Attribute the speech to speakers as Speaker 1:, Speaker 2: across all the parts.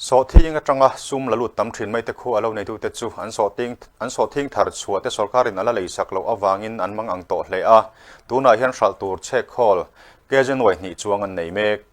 Speaker 1: Sawhthing atanga sum la lut tam thin mai te khu a lo neitute chu an sawhting an sawhthing thar chhuah te sorkarin a la lei sak loh avangin an mang ang tawh hle a, tunah hian hralh tur chhekhawl KJ nuaihnih chuang an nei mek.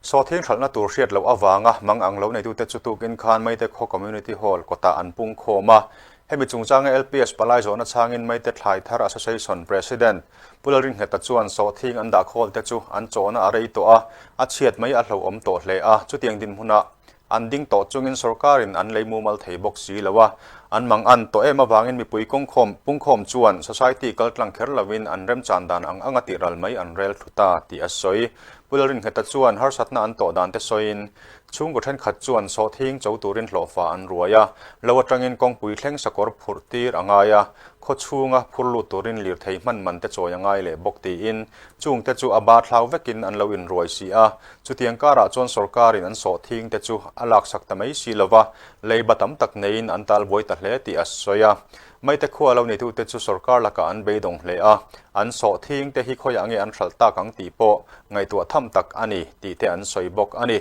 Speaker 1: Sawhthing hralhna tur hriat loh avanga mang ang lo neitute chu tukin khan Maite Khaw Community Hall kawtah an pungkhawm a, Hemi chungchanga LPS palai zawhna chhangin Maite Thlaithar Association President Pu Lalringheta chuan sawhthing an dah khawl te chu an chawhna a rei tawh a, a chhiat mai a hlo awm tawh hle a, chutiang dinhmunah an ding tawh chungin sawrkarin an lei mumal thei bawk si lo a, an mang an tawh em avangin mipui kawngkhawm, pungkhawm chuan society kal tlang kher lovin an remchan dan ang anga tih ral mai an rel thut a, tih a sawi. Pu Lalringheta chuan harsatna an tawh dan te sawiin Chhungkaw thenkhat chuan sawhthing cho turin hlawhfa an ruai a, lo atangin kawngpui thleng sakawr phurh tir a ngai a, khaw chhunga phur lut turin lirthei hman man te chawi a ngai leh bawk tiin chungte chu a bar thlau vekin an lo inruai si a. Chutiang karah chuan sorkarin an sawhthing te chu a laksak ta mai si lova, leiba tam tak neiin an talbuai ta hle tih a sawi a. Maite khua lo neitu te chu sorkar lakah an beidawng hle a, an sawh thing te hi khawiah nge an hralh tak ang tih pawh ngaihtuah tham tak a ni tih te an sawi bawk a ni.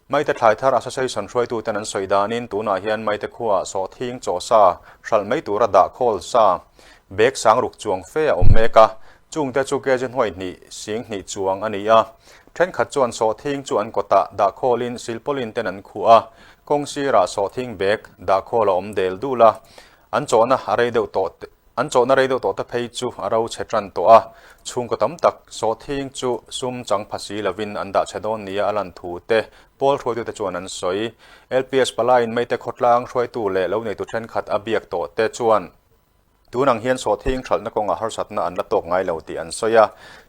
Speaker 1: Maite Thlaitar Association hruaitu ten an sawi danin tunah hian Maite khuaa sawh thing chaw sa hralh mai tura dah khawl sa bag sang ruk chuang fe a awm mek a, chung te chu kg hnuai hnih sing hnih chuang a ni a, thenkhat chuan sawh thing chu an kawtah dah khawlin silpaulin ten an khuh a, kawng sirah sawh thing bag dah khawl a awm del dul a, An chawhna a rei deuh tawh an chawhna rei deuh tawh te phei chu a ro chhe tan tawh a, chhungkaw tam tak sawhthing chu sum chang pha si lovin an dah chhe dawn nia a lan thu te pawl hruaitu te chuan an sawi. LPS pala in meite khawtlang hruaitu leh lo neitu thenkhat a biak tawh te chuan tun ang hian sawhthing thalhna kawngah harsatna an la tawk ngai lo tih an sawi a.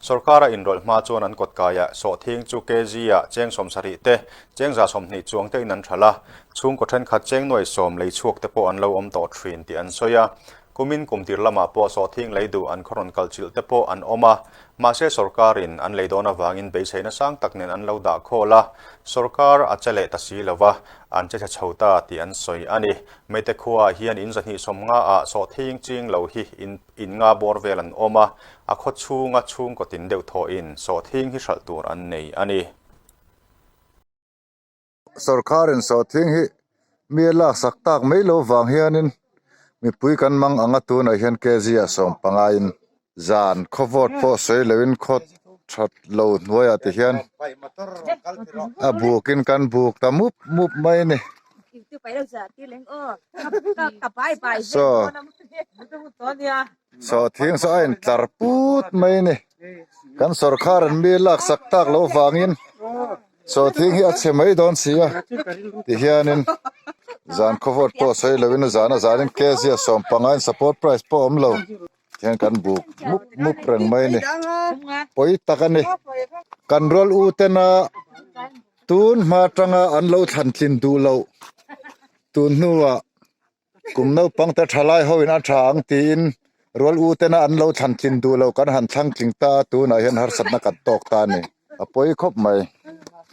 Speaker 1: Sorkara inrawlh hma chuan an kawtkaiah sawhthing chu kg ah cheng sawmsarih te Chengza sawmhnih chuang te in an ṭhal a, chhungkaw ṭhenkhat chengnuai sawm lei chhuak te pawh an lo awm tawh ṭhin tih an sawi a. Kumin kum tir lamah pawh sawhthing lei duh an khawrawn kalchilh te pawh an awm a, mahse sawrkarin an lei dawn avangin beiseina sang tak nen an lo dah khawl a, sawrkar a che leh ta si lova an che chhe chho ta tih an sawi a ni. Meite khuaah hian in zahnih sawm nga ah sawhthing ching lo hi in in nga bawr vel an awm a, a khawchhunga chhungkaw tin deuh thawhin sawhthing hi hralh tur an nei a ni. Sorkar insawhtling hi mi a lak sak tak mai lo vang hianin mipui kan mang anga tunah hian kg a sawm pangaiin zan khaw vote pawh sawi loin khaw that lo hnuaiah te hian a bukin kan buk ta mup mup mai a ni saw. Saw thiang saw a en tlar put mai a ni kan sorkar an mi lak sak tak loh vangin saw thiang hi a chhe mai dawn si a ti hianin zan khaw vawt pawh sawi lovin a zan a zanin kzia sawm panga in support price pawh a awm lo ti hian kan buk mup mup reng mai a ni pawi tak a ni kan rual u tena tun hma tanga an lo thlan tlin duh loh tun hnua Kum naupangte thalai ho in a tha ang tiin rual u tena an lo thlan tlin duh lo kan han thlang tling ta a tunah hian harsatna kan tawk ta a ni a pawi khawp mai.